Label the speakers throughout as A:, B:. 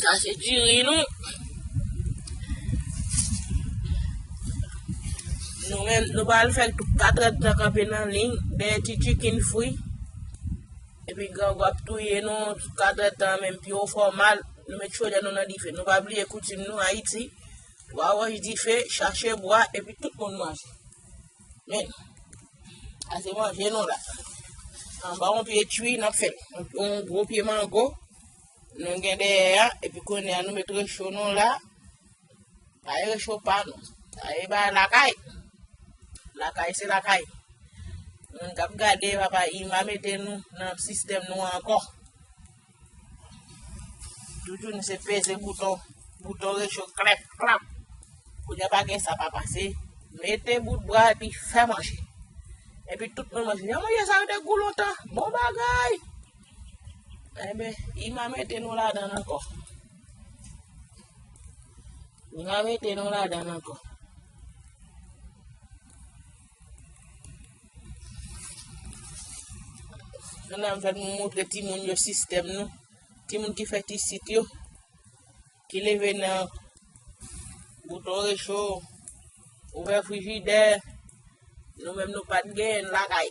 A: Sa se diri nou. Nou men, nou pa al fèk 4 èd tan kanpe nan ling, dèyè ti chikin fwi. Epi gran gwa ap touye nou, 4 èd tan men, pi ou fò mal, nou met chodè nou nan dife. Nou pa bliye koutim nou, Ayiti, 3 wòch dife, chache bwa, epi tout moun manje. Men, ase manje nou la. An ba yon pye chwi nan fèt. Yon gwo pye mango. Nou gen deye ya. Epi konen an nou met recho nou la. A ye recho pa nou. A ye ba lakay. Lakay se lakay. Mwen kap gade wap a ima meten nou nan sistem nou an kon. Doudou nou se peze bouton, bouton recho klep klap. Pou dè pa gen sa pa pase, mete bout bra epi fè manje. Epi tout moun manje, yon manje sa yo de gou lontan, bon bagay. Ebe, eh ima mete nou la dan anko. Ima mete nou la dan anko. Nan ap fèt moun moutre ti moun yo sistèm nou. Ti moun ki fèt isit yo. Ki leve nan bouton recho, ouvè frijidè, nou menm nou pat gen lakay.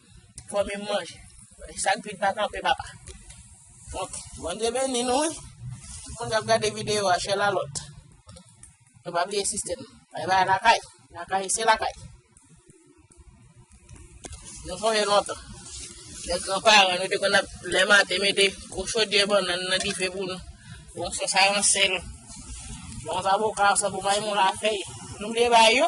A: Fò men manje. Sak vit pa kanpe papa. Ok, bon Dieu béni nou. Tout moun kap gade vidéo a chè la lot. Nou pa bliye sistèm. Bay bay lakay. Lakay se lakay. Nou konye lontan. Lè gran paran nou te kon ap lè maten mete kou chodyè bon nan nan dife pou nou. Bon se sa yon sel. Bon sa pou ka sa pou bay moun la fèy. Nou bliye bay yo.